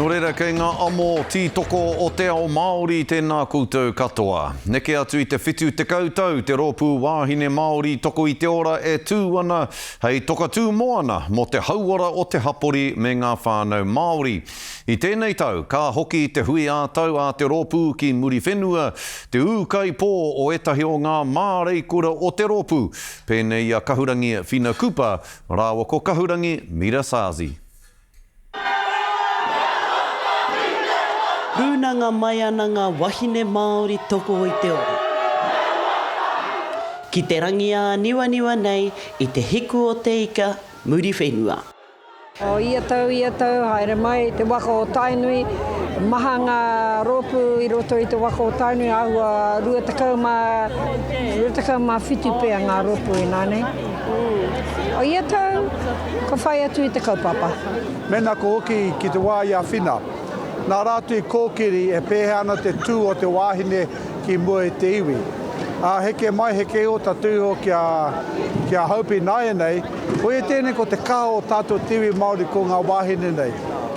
Nō reira, kei ngā amo tītoko o te ao Māori tēnā koutou katoa. Neke atu i te 70 tau te Rōpū Wāhine Māori Toko i te Ora e tū ana hei toka tū moana mō te hauora o te hapori me ngā whānau Māori. I tēnei tau, ka hoki te hui ā-tau a te rōpū ki Muriwhenua, te ūkaipō o ētahi o ngā māreikura o te rōpū, pēnei i a Kahurangi Whina Cooper Rāua ko Kahurangi Mirasazi. Rūnanga mai ana ngā wahine Māori toko i te ora. Ki te rangi āniwaniwa nei i te hiku o te ika Muriwhenua. O ia tau, ia tau, haere mai te waka o Tainui. Maha ngā rōpū i roto i te waka o Tainui, āhua rua tekau mā, rua tekau mā whitu pea ngā rōpū inānei. O ia tau, ka whai atu i te kaupapa. Mēnā ka hoki ki te wā i a Whina, nā rātou i kōkiri e pēhea ana te tū o te wāhine ki mua i te iwi. Ā, heke mai, heke iho tā te iho ki a, ki a Hopi nāianei, koia tēnei ko te kaha o tātou te iwi Māori ko ngā wāhine nei.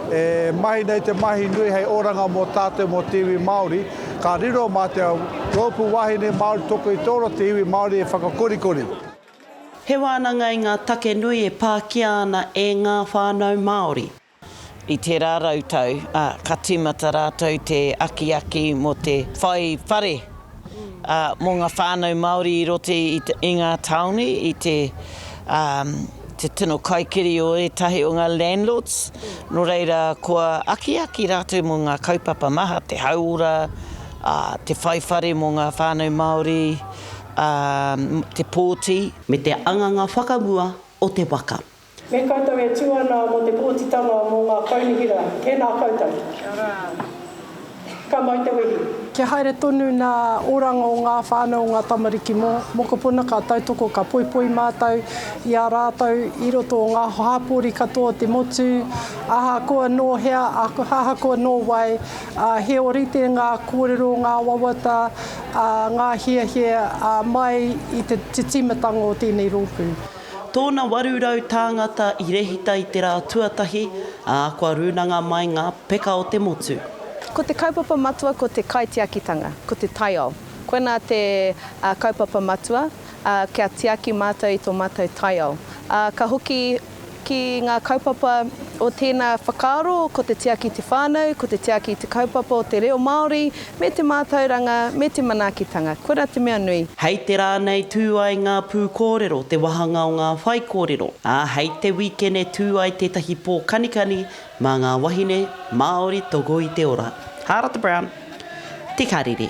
E mahi nei te mahi nui hei oranga mō tātou mō te iwi Māori, ka riro mā te rōpū wāhine Māori toko i tōro te iwi Māori e whakakorikori. He wānanga i ngā take nui e pākia ana e ngā whānau Māori. I tērā rautau, ka tīmata rātou te akiaki mō te whai whare mō ngā whānau Māori i roto i ngā tāone, i te tino kaikiri o ētahi o ngā landlords, nō reira kua akiaki rātou mō ngā kaupapa maha, te hauora, te whai whare mō ngā whānau Māori, ā, te pōti. Me te anganga whakamua o te waka. Me koutou e tū ana mō te pōtitanga mō ngā kaunihera. Tēnā koutou. Kia ora. Ka mau te wehi. Kia haere tonu nā oranga o ngā whānau o ngā tamariki mō. Mokopuna ka tautoko ka poipoi mātou i a rātou i roto o ngā hāpori katoa o te motu, ahakoa nō hea, ahakoa nō wai, ā, he ōrite ngā kōrero, ngā wawata, ā, ngā hiahia, ā, mai i te, te tīmatanga o tēnei rōpū. Tōna 800 tāngata i rehita i te rā tuatahi, ā, kua rūnanga mai ngā peka o te motu. Ko te kaupapa matua ko te kaitiakitanga, ko te taiao. Koinā te, ā, kaupapa matua, ā, kia tiaki mātou i tō mātou taiao. Ā, ka hoki. Ki ngā kaupapa o tēnā whakaaro, ko te tiaki i te whānau, ko te tiaki i te kaupapa o te reo Māori, me te mātauranga, me te manaakitanga. Koirā te mea nui. Hei te rā nei tū ai ngā pūkōrero, te wāhanga o ngā whaikōrero, ā, hei te wīkene tū ai tētahi pō kanikani mā ngā wahine Māori toko i te ora. Hāra te Brown, Te Karere.